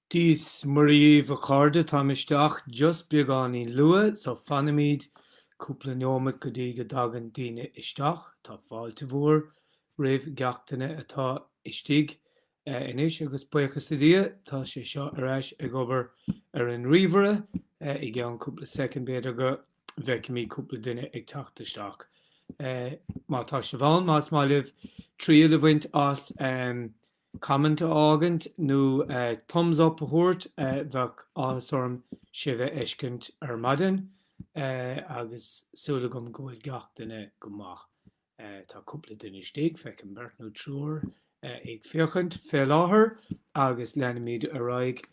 Dia is Muire dhíbh a chairde, táim isteach just beagáinín luath so fanfaimid cúpla neomat go dtí go dtagann daoine isteach. Tá fáilte mhór roimh gach duine atá istigh Anois agus buíochas le Dia, tá sé seo ar ais ag obair ar an ríomhaire. I gceann cúpla soicind, b'fhéidir go bhfeicfimid cúpla duine ag teacht isteach. Má tá sibh ann, más maith libh triail a bhaint as, comment a fhágaint nó thumbs up a thabhairt, bheadh áthas orm sibh a fheiscint ar maidin. Agus súil agam go bhfuil gach duine go maith. Tá cúpla duine istigh, feicim beirt nó triúr ag féachaint fé láthair agus leanfaimid ar aghaidh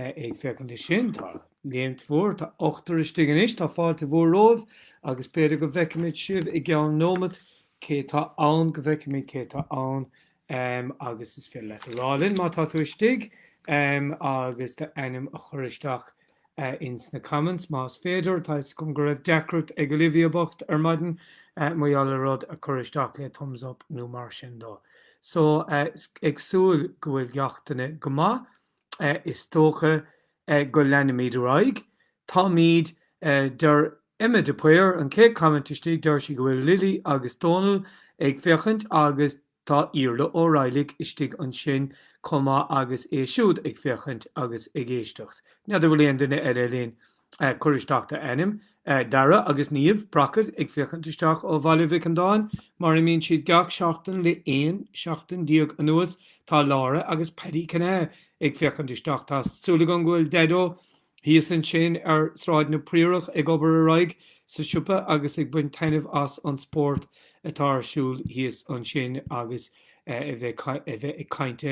ag féachaint air sin. Tá léimt mhór, tá ochtar istigh anois, tá fáilte mhór romhaibh agus b'fhéidir go bhfeicfimid sibh i gceann nóimeat, cé tá ann, go bhfeicfimid cé tá ann Am agus is féidir leat a rá linn má tá tú istigh agus do ainm a chur isteach ins na comments más féidir. Tá 'fhios agam go raibh deacracht ag Olivia bocht ar maidin mar gheall ar rud a chur isteach le thumbs up nó mar sin dó. So ag súil go bhfuil gach duine go maith. is dócha go leanfaimid ar aghaidh. Táimid Deir Emma de Paor, an chéad comment istigh, deir sí go bhfuil Lily agus Dónal ag féachaint agus tá Iarla Ó Raghallaigh istigh ansin chomh maith agus é siúd ag féachaint agus ag éisteacht. N'fheadar bhfuil aon duine eile linn. Cuir isteach d'ainm. Dara agus Niamh Brackett, ag féachaint isteach ó Bhaile Mhic Andáin, mar a mbíonn siad gach seachtain le 11 seachtain anuas. Tá Laura agus Paddy Cionaoith ag féachaint isteach. Tá súil agam go bhfuil Daideo thíos ansin ar Sráid na Priorach ag obair ar aghaidh sa siopa agus ag baint taitneamh as an spórt atá ar siúl thíos ansin agus a bheith ag caint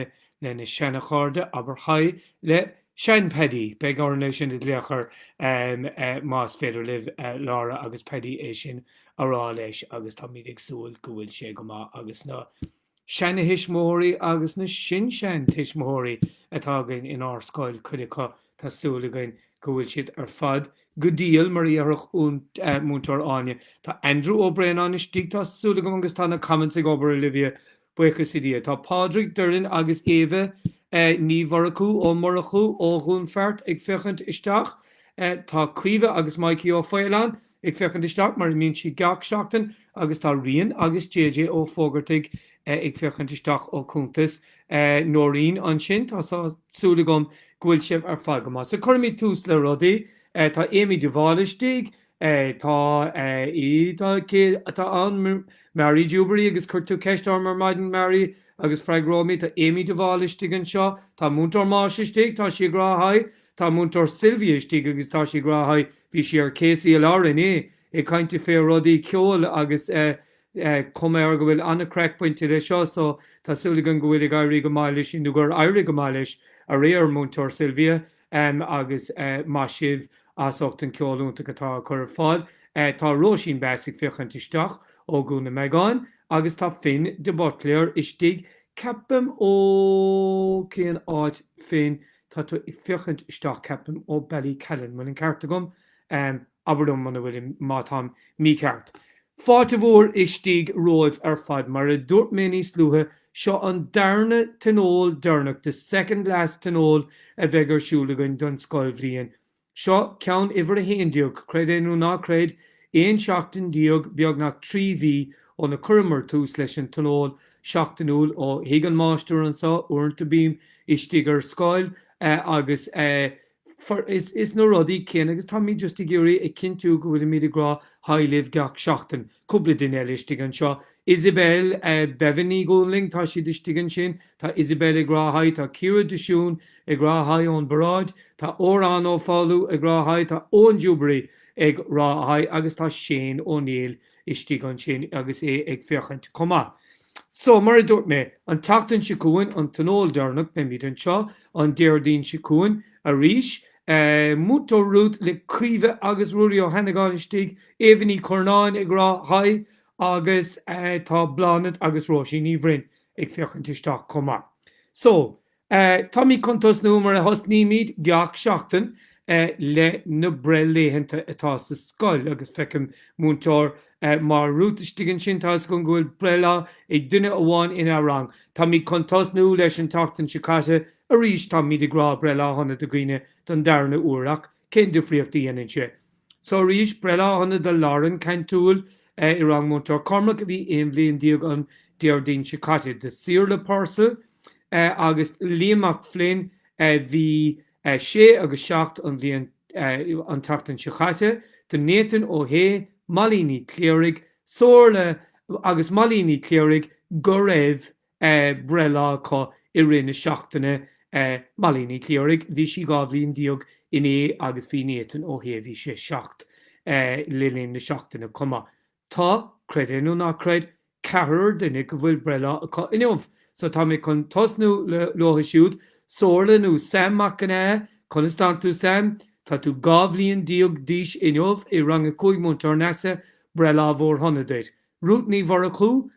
lena seana chairde, abair haigh le. Sean Paddy, beidh orainn é sin a ghlaoch air más féidir libh Laura agus Paddy é sin a rá leis agus táimid ag súil go bhfuil sé go maith agus na seanatuismitheoirí agus na sin-seantuismitheoirí atá againn in ár scoil cuid acu tá súil againn go bhfuil siad ar fad go diail mar a dhéarfadh Múinteoir Áine. Tá Andrew Ó Braonáin istigh tá súil agam agus tá na comments ag obair Olivia Buíochas le Dhia, tá Pádraig Doireann agus Éabha Ní Mhurchú, Ó Murchú, ó Dhún Feart ag féachaint isteach. Tá Caoimhe agus Maidhcí Ó Faoláin ag féachaint isteach, mar a mbíonn siad gach seachtain, agus tá Rian agus JJ Ó Fógartaigh ag féachaint isteach ó chuntas Nóirín ansin. Tá súil agam go bhfuil sibh ar fad go maith. So, cuirfimid tús le rudaí. Tá Amy de Bháil istigh. Tá í, tá, cé atá ann? Mary Jubery agus chuir tú ceist orm ar maidin, Mary, agus freagróidh mé. Tá Amy de Bháil istigh anseo. Tá Múinteoir Máise istigh. Tá sí ag rá Hi. Tá Múinteoir Sylvia istigh agus tá sí ag rá Hi. Bhí sí ar KCLR inné, ag caint fé rudaí ceoil agus eh, cuma air go bhfuil an-craic bainte de seo so tá súil againn go bhfuil ag éirí go maith leis nó gur éirigh go maith leis aréir, Múinteoir Sylvia. Em agus eh maith sibh, as ucht an ceol iontach atá á chur ar fáil. Eh tá Róisín Bheas ag féachaint isteach ó Dhún Iomagáin agus tá Finn de Buitléar istigh ceapaim ó cén áit Finn tá tú ag féachaint isteach ceapaim ó Ballycallan, bhfuil an ceart agam? Em. Abair liom muna bhfuil, má táim mícheart. Fáilte mhór istigh romhaibh ar fad. Mar a dúirt mé níos luaithe, seo an darna tionól deireanach, the second last tionól, a bheidh ar siúl againn don scoilbhliain. Seo ceann uimhir a haon déag, creid é nó ná creid, aon seachtain déag, beagnach trí mhí, óna cuireamar tús leis an tionól seachtainiúil. ó thigh an mháistir anso uaireanta, bím istigh ar scoil, agus eh, fós na rudaí céanna agus táimid just ag iarraidh ag cinntiú go bhfuilimid ag rá haigh libh gach seachtain. Cúpla duine eile istigh anseo. Isabel eh Béibhinn Ní Dhúnlaing tá siad istigh ansin. Tá Isabel ag rá haigh, tá Ciara de Siún ag rá haigh ón bparáid, tá Odhrán Ó Foghlú ag rá haigh, tá Eoin Jubery ag rá haigh agus tá Shane Ó Néill. istigh ansin agus é ag féachaint chomh maith. So, mar a dúirt mé, an tseachtain seo chugainn an Tionól deireanach, beimid anseo an Déardaoin seo chugainn arís, Múinteoir Ruth le Caoimhe agus Ruairí Ó hAnnagáin istigh, Éabha Ní Chornáin ag rá haigh agus tá Bláthnaid agus Róisín Ní Bhroin ag féachaint isteach chomh maith. So, Táimid chun tosnú mar a thosnaímid gach seachtain le na breithlaethanta atá sa scoil agus feicim Múinteoir Ruth istigh ansin. Tá's agam go bhfuil breithlá ag duine amháin ina rang. Táimid chun tosnú leis an tseachtain seo caite arís. Táimid ag rá breithlá shona do dhaoine don darna uair ach cén difríocht a dhéanann sé? So arís breithlá shona do Lauren Cantúil i rang Múinteoir Cormac a bhí aon bhliain déag an Déardaoin seo caite, do Saorla Purcell agus Liam Mac Floinn a bhí sé agus seacht an bhliain an tseachtain seo caite, do Nathan Ó hAodha, Molly Ní Chléirigh, Somhairle agus Molly Ní Chléirigh go raibh breithlá acu i rith na seachtaine Molly Ní Chléirigh, bhí sí dhá bhliain déag inné agus bhí Nathan Ó hAodha, bhí sé seacht, le linn na seachtaine chomh maith. Tá, creid é nó ná creid, ceathrar duine go bhfuil breithlá acu inniu! So tá mé chun tosnú le leothu siúd. Somhairle nó Sam Mac Cionaodha, conas tánn tú Sam? Tá tú dhá bhliain déag d'aois inniu, i rang a cúig Múinteoir Neasa, breithlá mhór shona duit. Ruth Ní Mhurchú,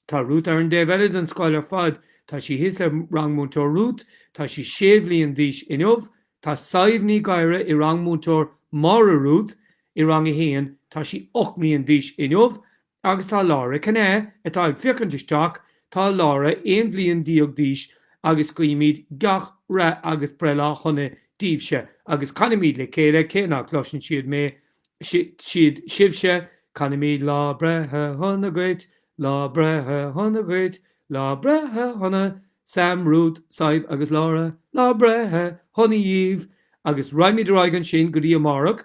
Tá Ruth ar an dtaobh eile den scoil ar fad. Tá sí thíos le rang Múinteoir Ruth. Tá sí sé bhliain d'aois inniu. Tá Sadhbh Ní Ghadhra i rang Múinteoir Máire Ruth i rang a haon. Tá sí ocht mbliain d'aois inniu. Agus tá Laura Cinnéide atá ag féachaint isteach. Tá Laura aon bhliain deag d'aois agus guímid gach rath agus breithlá shona daoibhse agus canaimid le chéile, cé nach gcloiseann siad mé, siad sibhse, canaimíd lá breithe shona dhuit, lá breithe shona dhuit, lá breithe shona, Sam, Ruth, Sadhbh agus Laura, lá breithe shona dhaoibh, agus raghaimid ar aghaidh ansin go dtí amárach.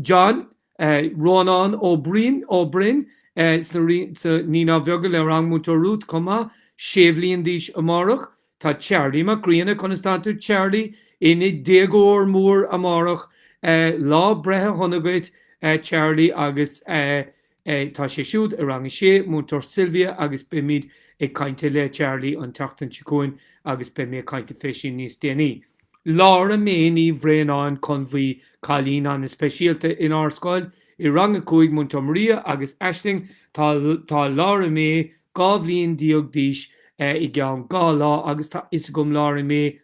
John, eh, Rónán Ó Broin, Ó Broin, eh, sna, sna Naíonáin Bheaga le rang Múinteoir Ruth chomh maith, sé bhliain d'aois amárach, Tá Charlie Mac Grianna, conas tánn tú Charlie, ina déagóir mór amárach, lá breithe shona dhuit Charlie agus tá sé siúd i rang a sé, Múinteoir Sylvia agus beimid ag cainte le Charlie an tseachtain seo chugainn agus beidh mé ag cainte fé sin níos déanaí. Laura Mae Ní Bhraonáin Conbhuí, cailín an-speisialta inár scoil, i rang a cúig, Múinteoir Maria agus Aisling, tá Laura Mae, Dhá bhliain déag d'aois i gceann dhá lá agus tá fhios agam, Laura Mae,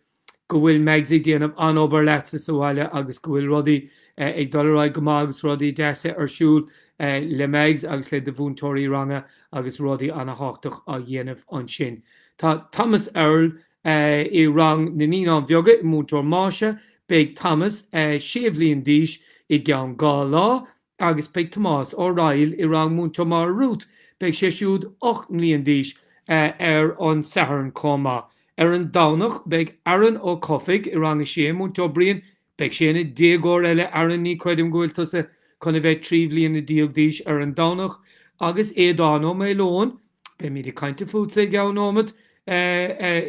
go bhfuil Mags ag déanamh an-obair leatsa sa bhaile agus go bhfuil rudaí ag dul ar aghaidh go maith agus rudaí deasa ar siúl le Mags agus le do mhúinteoirí ranga agus rudaí ana-thábhachtach á dhéanamh ansin. Tá Thomas Earl i rang na Naíonáin Bheaga, i Múinteoir Máise, beidh Thomas sé bhliain d'aois i gceann dhá lá. agus beidh Tomás Ó Raghaill i rang Múinteoir Máire Ruth, beidh sé siúd 8 mbliain d'aois, ar an Satharn chomh maith. Ar an Domhnach beidh Aaron Ó Cofaigh i rang a sé, Múinteoir Brian, beidh sé ina déagóir eile, Aaron ní chreidim go bhfuil tusa chun a bheith trí bhliana déag d'aois ar an Domhnach, agus Aodán Ó Maoileoin, Beimid ag caint fútsa i gceann nóiméad, a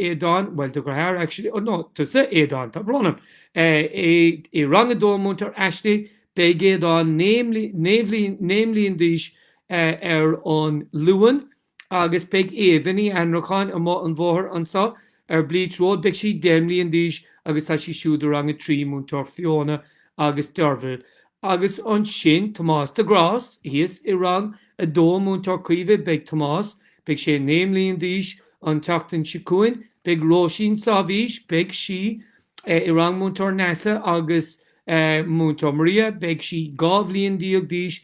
Aodáin, bhuel, do dheartháir, actually, no, tusa, Aodán, tá brón orm, i rang a dó, Múinteoir Aisling, beidh Aodán naoi mbliain d'aois ar an Luan agus beidh Eva Ní Anracháin amuigh an bhóthair anseo ar Bleach Road, beidh sí deich mbliain d'aois agus tá sí siúd i rang a trí, Múinteoir Fiona agus Derval, Agus ansin Tomás de Grás, thíos i Rang 2 Múinteoir Caoimhe, beidh Tomás, beidh sé 9 mbliain d'aois an tseachtain seo chugainn, beidh Róisín Sabhaois, beidh sí, i rang Múinteoir Neasa agus Múinteoir Maria, beidh sí 12 bhliain d'aois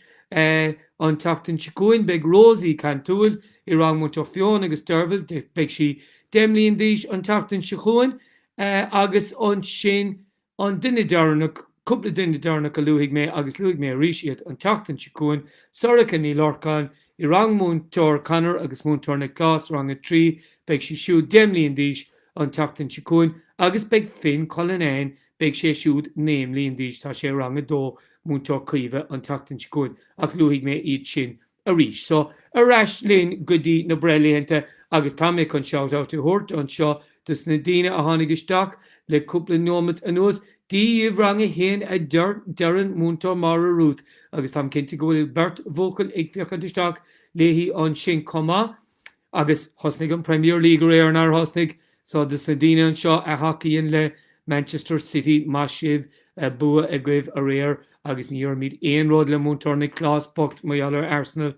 an tseachtain seo chugainn, beidh Rosie Cantúil i rang Múinteoir Fiona agus Derval, beidh sí 10 mbliain d'aois an tseachtain seo chugainn, agus ansin An duine deireanach, cúpla duine deireanach a luafaidh mé, agus luafaidh mé arís iad an tseachtain seo chugainn, Sorcha Ní Lorcáin i rang Múinteoir Conor agus Múinteoir Nioclás, rang a trí, beidh sí siúd deich mbliain d'aois an tseachtain seo chugainn, agus beidh Finn Cullinane, beidh sé siúd naoi mbliain d'aois, tá sé i rang a dó, Múinteoir Caoimhe an tseachtain seo chugainn, ach luafaidh mé iad sin arís. So, ar ais linn go dtí na breithlaethanta agus tá mé chun shout out a thabhairt anseo dos na daoine a tháinig isteach le cúpla neomat anuas, Dia daoibh rang a haon a deireann Múinteoir Máire Ruth agus táim cinnte go bhfuil beirt bhuachaill ag féachaint isteach léi ansin chomh maith. Agus thosnaigh an Premier League aréir, nár thosnaigh? So, dos na daoine anseo a thacaíonn le Manchester City, maith sibh, bua agaibh aréir agus ní dhéarfaimid aon rud le Múinteoir Nioclás bocht mar gheall ar Arsenal.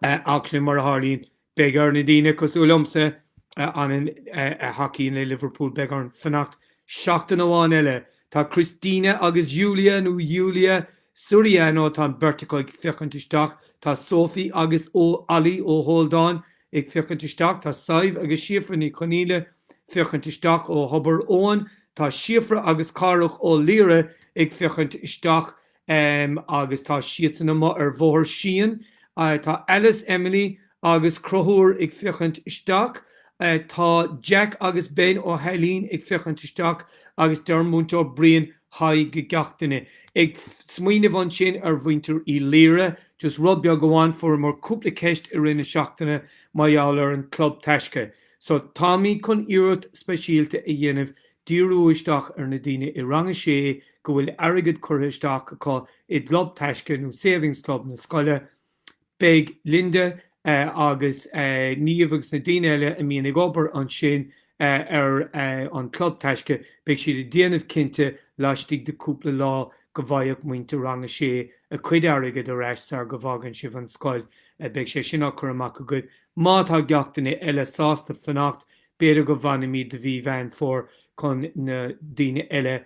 Ach sin mar a tharlaíonn. Beidh ar na daoine cosúil liomsa a thacaíonn le Liverpool, beidh orainn fanacht seachtain amháin eile. Tá Christina agus Julia, nó Yulia, Soriano Tá an bheirt acu ag féachaint isteach, tá Sophie agus Ollie Ó hAoldáin ag féachaint isteach, tá Sadhbh agus Síofra Ní Chonaola féachaint isteach, ó Thobar Eoin tá Síofra agus Cárthach Ó Laoire ag féachaint isteach, agus tá siadsan amuigh ar Bhóthar Síon, tá Alice, Emily agus Conchúr ag féachaint isteach, tá Jack agus Ben Ó hAilín ag féachaint isteach, agus deireann Múinteoir Brian haigh go gach duine. Ag smaoineamh ansin ar mhuintir Uí Laoire, just rud beag amháin, fuaireamar cúpla ceist i rith na seachtaine mar gheall ar an Club Taisce. So, táimid chun iarracht speisialta a dhéanamh díriú isteach ar na daoine i rang a sé go bhfuil airgead curtha isteach acu i gClub Taisce nó Savings Club na scoile, Beidh Linda agus Niamh agus na daoine eile a mbíonn ag obair ansin ar an Chlub Taisce, beidh siad ag déanamh cinnte laistigh de cúpla lá go bhfaighidh muintir Rang 6 a cuid airgead ar ais sar go bhfágann sibh an scoil. Beidh sé sin ag dul amach chugat. Má tá gach duine eile sásta fanacht, b'fhéidir go bhfanfaimid do mhí Mheán Fomhair chun na daoine eile a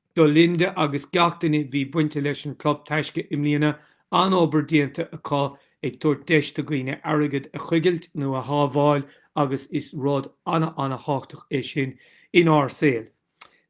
Do Linda agus gach duine bhí bainte leis an Club Taisce i mbliana an-obair déanta acu ag tabhairt deis do dhaoine airgead a choigilt nó a shábháil agus is rud ana ana thábhachtach é sin inár saol.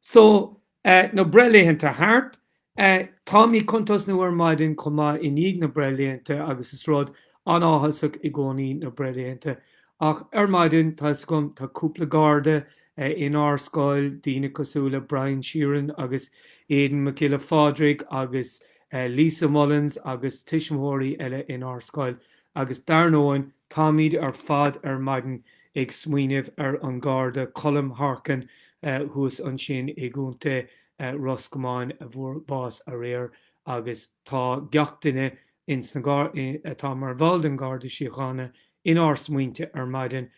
So, eh, na breithlaethanta thart, eh, táimid ag cuntas ansin ar maidin chomh maith i ndiaidh na breithlaethanta agus is rud An-áthasach i gcónaí na breithlaethanta, ach ar maidin, tá 'fhios agam, tá cúpla Garda in ár scoil, daoine cosúil le Brian Sheeran agus Aidan Mac Giolla Phádraig agus Lisa Mullins agus tuismitheoirí eile in ár scoil agus dar ndóigh, táimid ar fad ar maidin ag smaoineamh ar an Garda Colm Harkin thuas ansin i gContae Ros Comáin a fuair bás aréir agus tá gach duine ins na Gardaí, atá mar bhall den Garda Síochána, inár smaointe ar maidin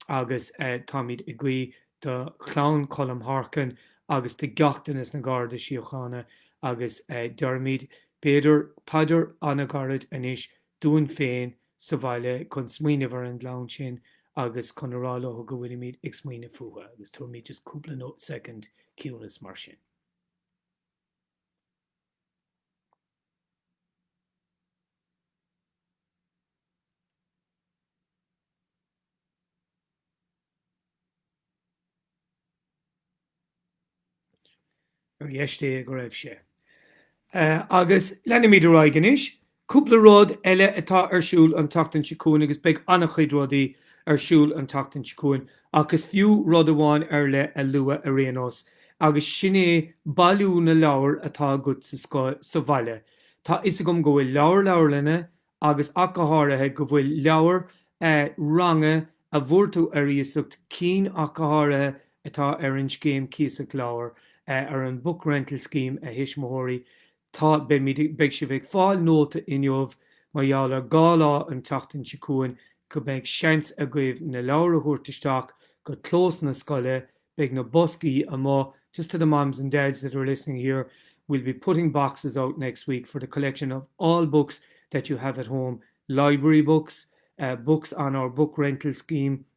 agus táimid ag guí do chlann Cholm Harkin agus do gach duine sna Garda Síochána agus deirimid, b'fhéidir, paidir an-ghairid anois dúinn féin sa bhaile chun smaoineamh ar an gclann sin agus chun a rá leo go bhfuilimid ag smaoineamh fúthu agus tabharfaimid just cúpla soicind ciúnas mar sin. Ar dheis Dé go raibh sé. Agus leanfaimid ar aghaidh anois Cúpla rud eile atá ar siúl an tseachtain seo chugainn, agus beidh an-chuid rudaí ar siúl an tseachtain seo chugainn, ach is fiú rud amháin ar leith a lua ar aon nós, agus sin é bailiú na leabhar atá agat sa bhaile. Tá 'fhios agam go bhfuil leabhair leabharlainne, agus ach go háirithe, go bhfuil leabhair eh ranga a bhfuair tú ar iasacht, cinn ach go háirithe atá ar an scéim cíosach leabhar, eh ar an book rental scheme a thuismitheoirí, Tá, beidh sibh ag fáil nóta inniu mar gheall ar dhá lá an tseachtain seo chugainn go mbeidh seans agaibh na leabhair a thabhairt isteach go clós na scoile, beidh na boscaí amuigh, just to the moms and dads that are listening here, we'll be putting boxes out next week for the collection of all books that you have at home, library books, books on our book rental scheme,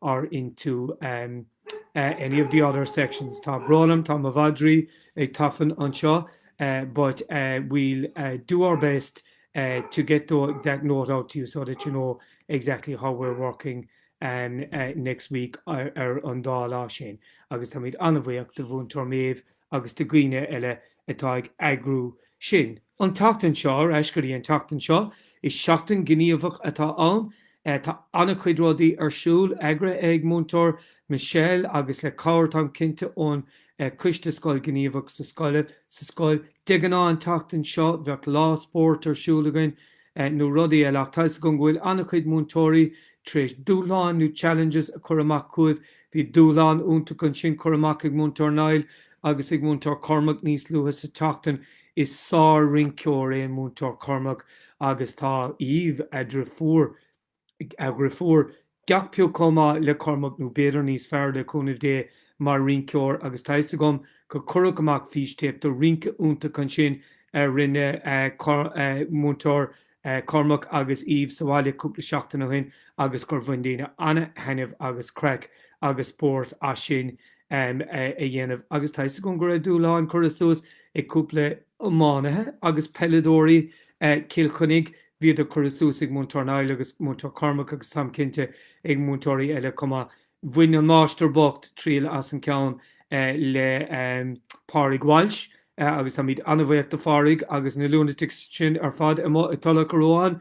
are into any of the other sections. Tá brón orm, tá mo mhadraí ag tafann anseo but we'll do our best to get that note out to you so that you know exactly how we're working next week ar an dá lá sin agus táimid an-bhuíoch de Mhúinteoir Méabh agus do dhaoine eile atá ag eagrú sin. An tseachtain seo ar ais go dtí an tseachtain seo, is seachtain gníomhach atá ann. Tá an-chuid rudaí ar siúl, eagraithe ag Múinteoir Michelle agus le cabhair, táim cinnte, ón Coiste Scoil Ghníomhach sa scoil. De ghnáth an tseachtain seo, bheadh lá spóirt ar siúl againn nó rudaí eile ach tá fhios agam go bhfuil an-chuid múinteoirí tar éis dúshláin nó challenges a chur amach chugaibh Bhí dúshlán iontach ansin curtha amach ag Múinteoir Niall agus ag Múinteoir Cormac níos luaithe sa tseachtain. Is sár-rinceoir é Múinteoir Cormac agus tá Aoibh, a dheirfiúr, a dheirfiúr, gach pioc chomh maith le Cormac nó b'fhéidir níos fearr, le cúnamh Dé, mar rinceoir agus tá fhios agam gur cuireadh amach fístéip de rince iontach ansin a rinne Múinteoir Cormac agus Aoibh sa bhaile cúpla seachtain ó shin agus gur bhain daoine an-thaitneamh agus craic agus spórt as sin a dhéanamh agus tá 'fhios agam go raibh dúshláin curtha suas ag cúpla iománaithe agus peileadóirí Cill Chainnigh, bhíodar curtha suas ag Múinteoir Niall agus Múinteoir Cormac agus táim cinnte ag múinteoirí eile chomh maith. Bhain an máistir bocht triail as an gceann le Pádraig Walsh agus táimid an-bhuíoch do Phádraig agus na lunatics sin ar fad amuigh i dTulach Ruáin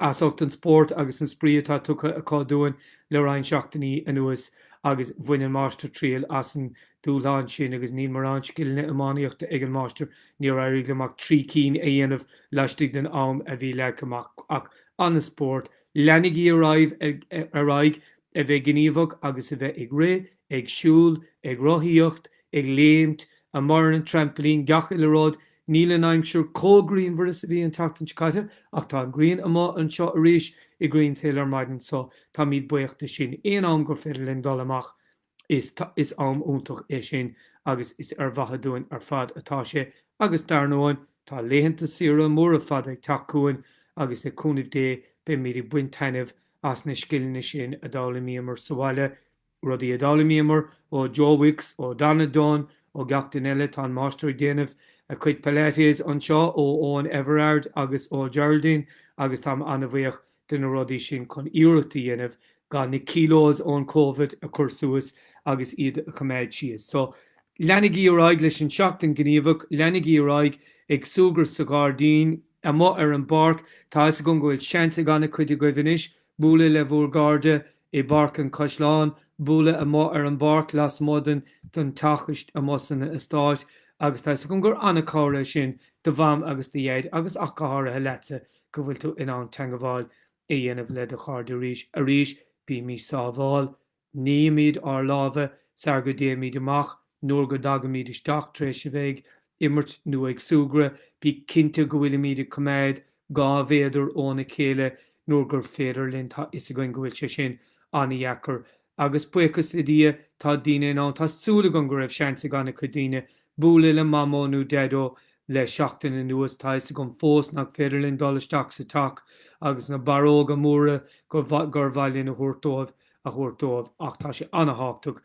as ucht an spórt agus an spraoi atá tugtha acu dúinn le roinnt seachtainí anuas agus bhain an máistir triail as an dúshlán sin agus níl mórán scileanna iománaíochta ag an máistir, níor éirigh liom ach trí cinn a dhéanamh laistigh den am a bhí leagtha amach ach an-spórt. Leanaigí ar aghaidh ar aghaidh a bheith gníomhach agus a bheith ag rith, ag siúl, ag rothaíocht, ag léimt, amuigh ar an traimplín, gach uile rud. Níl an aimsir chomh grianmhar is a bhí an tseachtain seo caite ach tá an ghrian amuigh anseo arís i Greenshill ar maidin so táimid buíoch de sin. Aon am gur féidir linn dul amach is am iontach é sin agus is ar mhaithe dúinn ar fad atá sé agus dar ndóigh, Tá laethanta saoire móra fada ag teacht chugainn agus le cúnamh Dé beimid ag baint taitneamh as na scileanna sin a d'fhoghlaimíomar sa bhaile, rudaí a d'fhoghlaimíomar ó Joe Wicks, ó Donna Dunne, ó gach duine eile, tá an Máistir ag déanamh a chuid Pilates anseo, ó Eoin Everard agus ó Geraldine agus táim an-bhuíoch de na rudaí sin chun iarracht a dhéanamh gan na kilos ón Covid a chur suas agus iad a choimeád síos. So, leanaigí ar aghaidh leis an Seachtain Ghníomhach, leanaigí ar aghaidh ag súgradh sa ghairdín, amuigh ar an bpáirc, tá a fhios agam go bhfuil seans ag an-chuid agaibh anois bualadh le bhúr gcairde i bPáirc an Chaisleáin, bualadh amuigh ar an bpáirc lasmuigh den den teach, amuigh san eastáit agus tá a fhios agam gur an-chabhair é sin do Mham agus do Dhaid agus ach go háirithe leatsa go bhfuil tú in ann teangabháil a dhéanamh le do chairde arís. Arís, bímís sábháil. Nímis ár lámha sar go dtéimid amach, nuair go dtagaimid isteach, tar éis a bheith ag imirt nó ag súgradh, bí cinnte go bhfuilimid ag coimeád dhá mhéadar óna chéile nuair gur féidir linn, tá fhios againn go bhfuil sé sin an-dheacair. Agus buíochas le Dia, tá daoine in ann, tá súil agam go raibh seans ag an-chuid daoine, bualadh le Mamó nó Deaideo le seachtain anuas. Tá 'fhios agam fós nach féidir linn dul isteach sa teach agus na barróga móra gur mhaith linn a thabhairt dóibh a thabhairt dóibh ach tá sé an-thábhachtach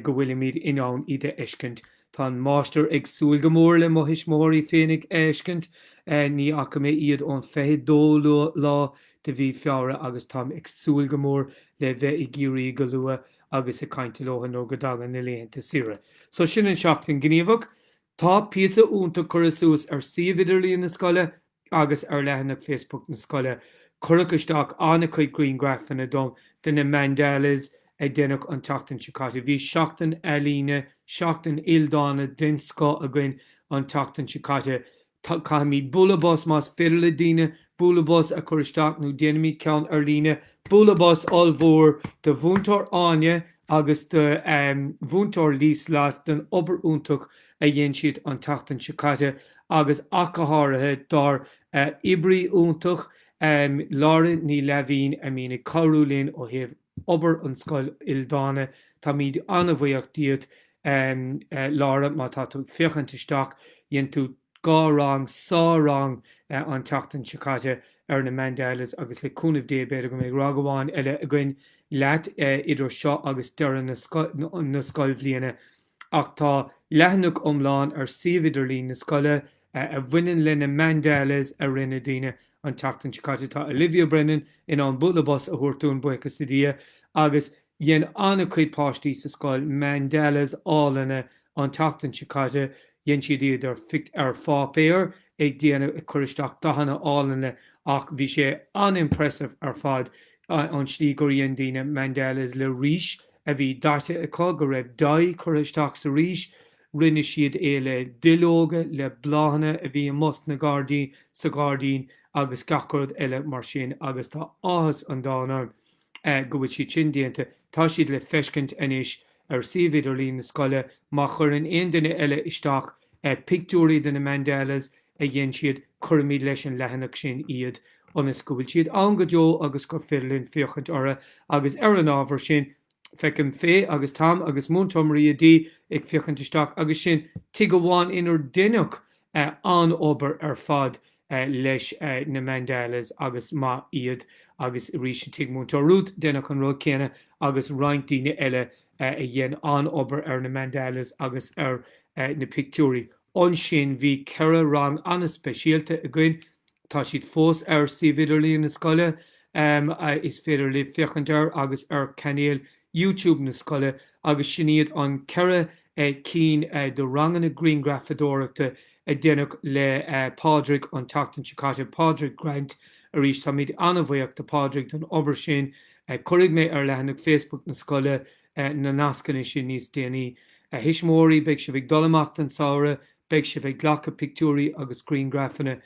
go bhfuilimid in ann iad a fheiscint. Tá an máistir ag súil go mór le mo thuismitheoirí féinig a fheiscint. Ní fhaca mé iad ón 22 lá de mhí Feabhra agus táim ag súil go mór le bheith i gCiarraí go luath agus ag caint leothu nuair go dtagann na laethanta saoire. So sin an Seachtain Ghníomhach. Tá píosa iontach curtha suas ar suíomh idirlíon na scoile agus ar leathanach Facebook na scoile cuireadh isteach an-chuid griangraifeanna dom de na mandalas a deineadh an tseachtain seo caite. Bhí seachtain ealaíne, seachtain ildána den scoth againn an tseachtain seo caite. Caithfimid bualadh bos más féidir le daoine bualadh bos a chur isteach nó déanaimid ceann ar líne. Bualadh bos ollmhór do Mhúinteoir Áine agus do Mhúinteoir Liesl-Lotte don obair iontach a dhein siad an tseachtain seo caite agus ach go háirithe dár oibrí iontach Laura Ní Laimhín a mbíonn ag cabhrú linn ó thaobh obair an scoil ildána. Táimíd an-bhuíoch díot Laura má tá tú ag féachaint isteach. Dhein tú dhá rang, sár-rang an tseachtain seo caite ar na mandalas agus le cúnamh Dé b'fhéidir go mbeidh rang amháin eile againn leat idir seo agus deireadh na scoilbhliana. ach tá leathanach iomlán ar suíomh idirlín na scoile a bhaineann le na mandalas a rinne daoine an tseachtain seo caite. Tá Olivia Brennan in ann bualadh bos a thabhairt dúinn, buíochas le Dia, agus dhein an-chuid páistí sa scoil mandalas álainne an tseachtain seo caite. Dhein siad iad ar ar pháipéar ag déanamh, ag cur isteach dathanna álainne ach bhí sé an-impressive ar fad an tslí gur dhein daoine mandalas le rís, a bhí daite acu go raibh dath curtha isteach sa rís, rinne siad é le duilleoga, le bláthanna a bhí i mbus na gairdín, sa ghairdín agus gach rud eile mar sin agus tá áthas an domhain orm go bhfuil siad sin déanta. Tá siad le feiscint anois ar suíomh idirlín na scoile. Má chuireann aon duine eile isteach pictiúirí de na mandalas a dhein siad, cuirfimid leis an leathanach sin iad ionas go bhfuil siad ann go deo agus gur féidir linn féachaint orthu agus ar an ábhar sin feicim Faye agus Tom agus Múinteoir Maria D ag féachaint isteach agus sin tigh amháin inar deineadh an-obair ar fad leis na mandalas agus maith iad agus arís i tigh Múinteoir Ruth deineadh an rud céanna agus roinnt daoine eile a dhein an-obair ar na mandalas agus ar na pictiúirí. Ansin bhí ceithre rang an-speisialta againn, tá siad fós ar suíomh idirlíon na scoile, is féidir libh féachaint air, agus ar chainéal YouTube na scoile, agus sin iad an ceithre cinn de ranganna grianghrafadóireachta a deineadh le Pádraig an tseachtain seo caite, Pádraig Grant, arís táimid an-bhuíoch do Phádraig don obair sin, cuirfidh mé ar leathanach Facebook na scoile na nascanna sin níos déanaí. A Thuismitheoirí, beidh sibh ag dul amach an samhradh, beidh sibh ag glacadh pictiúirí agus griangrafanna.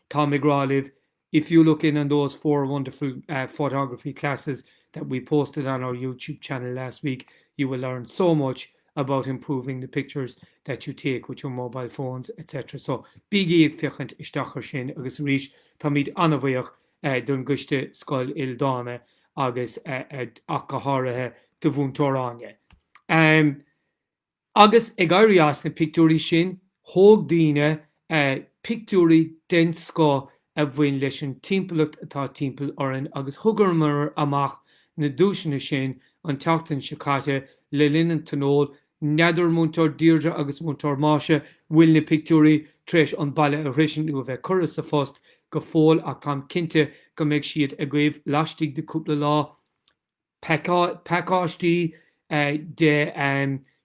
Táim ag rá libh, if you look in on those four wonderful photography classes that we posted on our YouTube channel last week, you will learn so much about improving the pictures that you take with your mobile phones, etc. So, bígí ag féachaint isteach ar sin agus arís, táimid an-bhuíoch don gCoiste Scoil Ildánach agus ach go háirithe do Mhúinteoir Áine. Agus ag éirí as na pictiúirí sin, thóg daoine pictiúirí den scoth a bhain leis an timpeallacht atá timpeall orainn agus thugamar amach na duaiseanna sin an tseachtain seo caite le linn an Tionóil N'fheadar, Múinteoir Deirdre agus Múinteoir Maisie, bhfuil na pictiúirí tar éis an baile a shroisint nó a bheith curtha sa phost go fóill ach táim cinnte go mbeidh siad agaibh laistigh de cúpla lá. Pacáistí de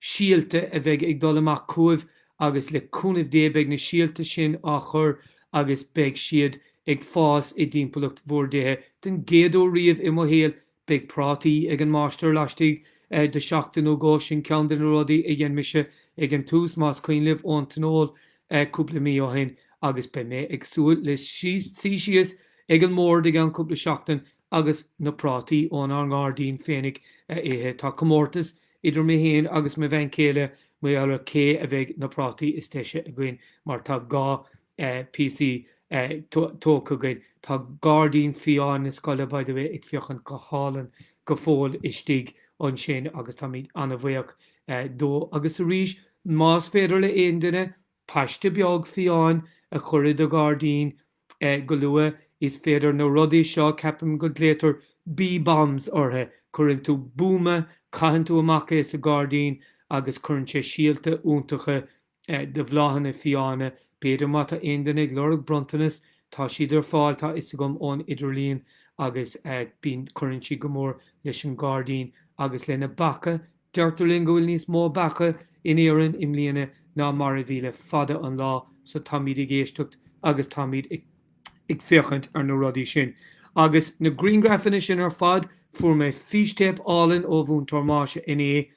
síolta a bheidh ag dul amach chugaibh agus le cúnamh Dé beidh na síolta sin á chur agus beidh siad ag fás i dtimpeallacht bhur dtithe. Don gcéad uair riamh i mo shaol Beidh prátaí ag an máistir laistigh de sheachtain nó dhó, sin ceann de na rudaí a dhein mise ag an tús, más cuimhin libh ón tionól cúpla mí ó shin, agus beidh mé ag súil le suí síos ag an mbord i gceann cúpla seachtain agus na prátaí ónár ngairdín féinig a ithe. Tá comórtas idir mé héin agus mo bhean chéile maidir le cé a bheidh na prátaí is deise againn, mar tá dhá PC tógtha againn. Tá gairdín fiáin na scoile, by the way, ag féachaint go hálainn go fóill istigh ansin agus táimid an-bhuíoch dó. Agus arís, más féidir le aon duine paiste beag fiáin a chur i do ghairdín go luath, is féidir na rudaí seo, ceapaim go nglaotar bee bombs orthu, cuireann tú buama, caitheann tú amach é sa ghairdín agus cuireann sé síolta iontacha de bhláthanna fiáine. B'fhéidir má tá aon duine ag lorg bronntanas, tá siad ar fáil, tá 'fhios agam, ón idirlíon agus bíonn, cuireann siad go mór leis an gairdín agus leis na beacha. Deirtear linn go bhfuil níos mó beacha in Éirinn i mbliana ná mar a bhí le fada an lá so táimid ag éisteacht agus táimid ag féachaint ar na rudaí sin. Agus na grianghraifeanna sin ar fad, fuair mé fístéip álainn ó Mhúinteoir Máire inné,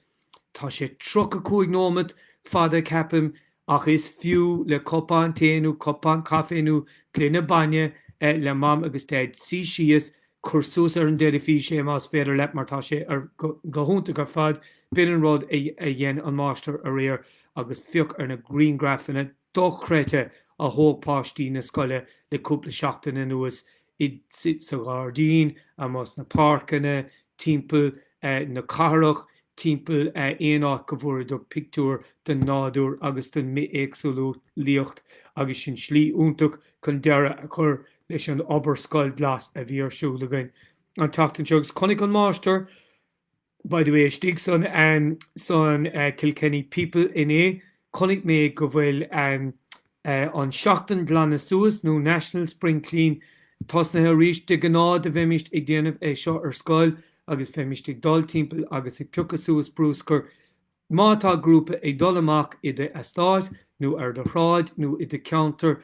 Tá sé tríocha cúig nóimead fada ceapaim ach is fiú le cupán tae nó cupán caife nó gloine bainne le mam agus daid suí síos, cur suas ar an deilifís é más féidir leat mar tá sé go hiontach ar fad, b'in an rud a dhein an máistir aréir agus féach ar na grianghraifeanna dochreidte a thóg páistí na scoile le cúpla seachtain anuas, iad sa ghairdín, amuigh sna páirceanna, timpeall na cathrach, timpeall aon áit go bhfuaireadar pictiúir den nádúr agus den mbithéagsúlaíocht agus sin slí iontach chun deireadh a chur leis an obair Scoil Glas a bhí ar siúl againn an tseachtain seo agus chonaic an Máistir By the way, istigh san san Kilkenny People inné, chonaic mé go bhfuil an tSeachtain Glanadh Suas, nó National Spring Clean, tosnaithe arís. De ghnáth do bheimist ag déanamh é seo ar scoil agus bheimist ag dul timpeall agus ag piocadh suas bruscar. Má tá grúpa ag dul amach i do eastát, nó ar do shráid, nó i do cheantar,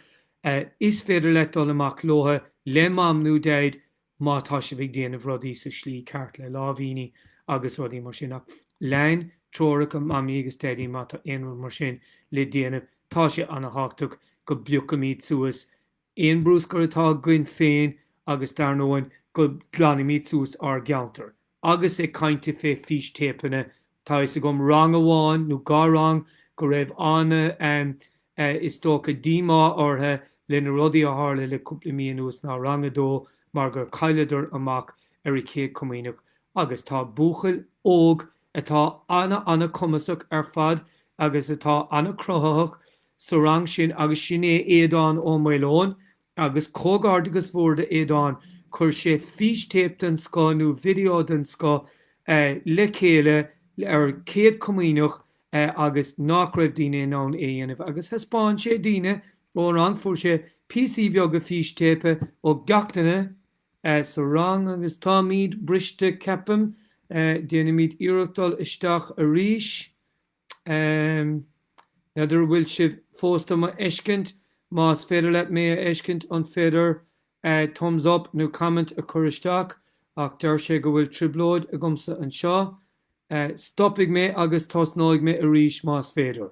is féidir leat dul amach leotha, le Mam nó Daid, má tá sibh ag déanamh rudaí sa slí ceart le láimhíní agus rudaí mar sin ach lean treoracha mamaí agus daidí má tá aon rud mar sin le déanamh tá sé ana thábhachtach go bpiocaimid suas aon bruscar atá againn féin agus dar ndóigh go glanaimid suas ár gceantar Agus ag caint fé fístéipeanna, tá fhios agam rang amháin, nó dhá rang, go raibh ana, em, eh, is dócha díomá orthu le na rudaí a tharla le cúpla mí anuas ná rang a dó mar gur chailleadar amach ar a Céad Comaoineach agus tá buachaill óg atá ana ana cumasach ar fad agus atá ana cruthaitheach sa rang sin agus sin é Aodán Ó Maoileoin Agus comhghairdeachas mór d'Aodán, chuir sé fístéip den scoth nó video den scoth le chéile ar Chéad Chomaoineach agus nach raibh daoine in ann é a dhéanamh agus thaispeáin sé daoine ón rang, fuair sé píosaí beaga fístéipe ó gach duine sa rang agus táimid briste ceapaim, déanfaimid iarracht dul isteach arís. N'fheadar a bhfuil sibh fós do mo fheiscint? Más féidir leat mé a fheiscint, an féidir thumbs up nó comment a chur isteach? Ach deir sé go bhfuil trioblóid agamsa anseo. Stopfaidh mé agus tosnóidh mé arís más féidir.